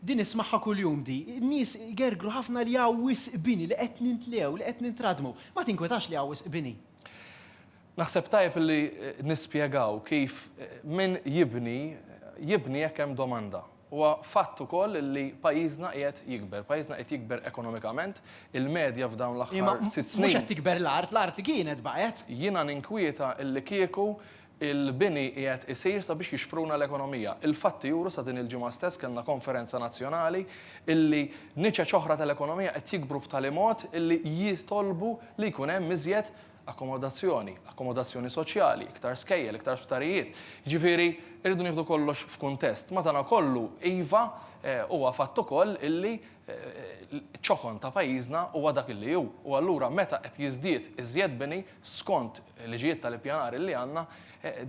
Din ismagħha kuljum di. N-nies igergru ħafna li hawn wisq bini, li qed nintlew, li qed nintradmu. Ma tinkwetax li hawn wisq bini. Naħseb tajjeb li nispjegaw kif min jibni, jibni jekk hemm domanda. Huwa fatt ukoll li pajjiżna qiegħed jikber. Pajjiżna qiegħed jikber ekonomikament. Il-medja f'dawn l-aħħar sitt snin. Imma mhux qed tikber l-art, l-art kienet baqgħet. Jiena ninkwieta li kieku Il-bini qiegħed isir sabiex jixpruna l-ekonomija. Il-fatti juru sa din il-ġimgħa stess kellna konferenza nazzjonali illi niċeċ oħra tal-ekonomija qed jikbru b'tali mod illi jitolbu li jkun hemm iżjed akkomodazzjoni, akkomodazzjoni soċjali, iktar skejjel, iktar sptarijiet. Jiġifieri rridu nieħdu kollox f'kuntest. Madanakollu, iva, huwa fatt ukoll illi Iċ-ċokon ta' pajjiżna huwa dak li hu u allura meta qed jiżdied iżjed bini, skont liġijiet tal-ippjanar li għandna,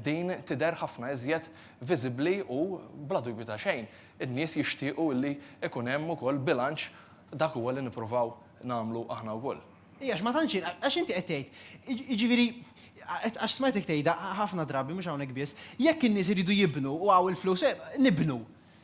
din tidher ħafna iżjed viżibbli u bla dubju ta' xejn in-nies jixtiequ li jkun hemm ukoll bilanċ, dak huwa li nippruvaw nagħmlu aħna wkoll. Iva, għax ma tantx jien, għax inti qed tgħid, jiġifieri, għax smajtek tgħidha ħafna drabi, mhux hawnhekk biss, jekk in-nies iridu jibnu u hawn il-flus, nibnu.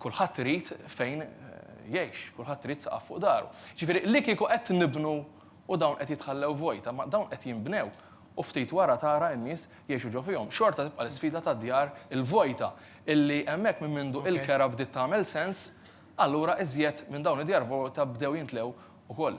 Kulħadd irid fejn jgħix, kulħadd irid saqaf fuq daru. Ġifieri li kieku qed nibnu u dawn qed jitħallew vojta, ma dawn qed jinbnew u ftit wara tara n-nies jgħixu ġo fihom. Xorta tibqa' l-isfida tad-djar il-vojta illi hemmhekk minn mindu il-kera bdiet tagħmel sens, allura iżjed minn dawn id-djar vojta bdew jintlew ukoll.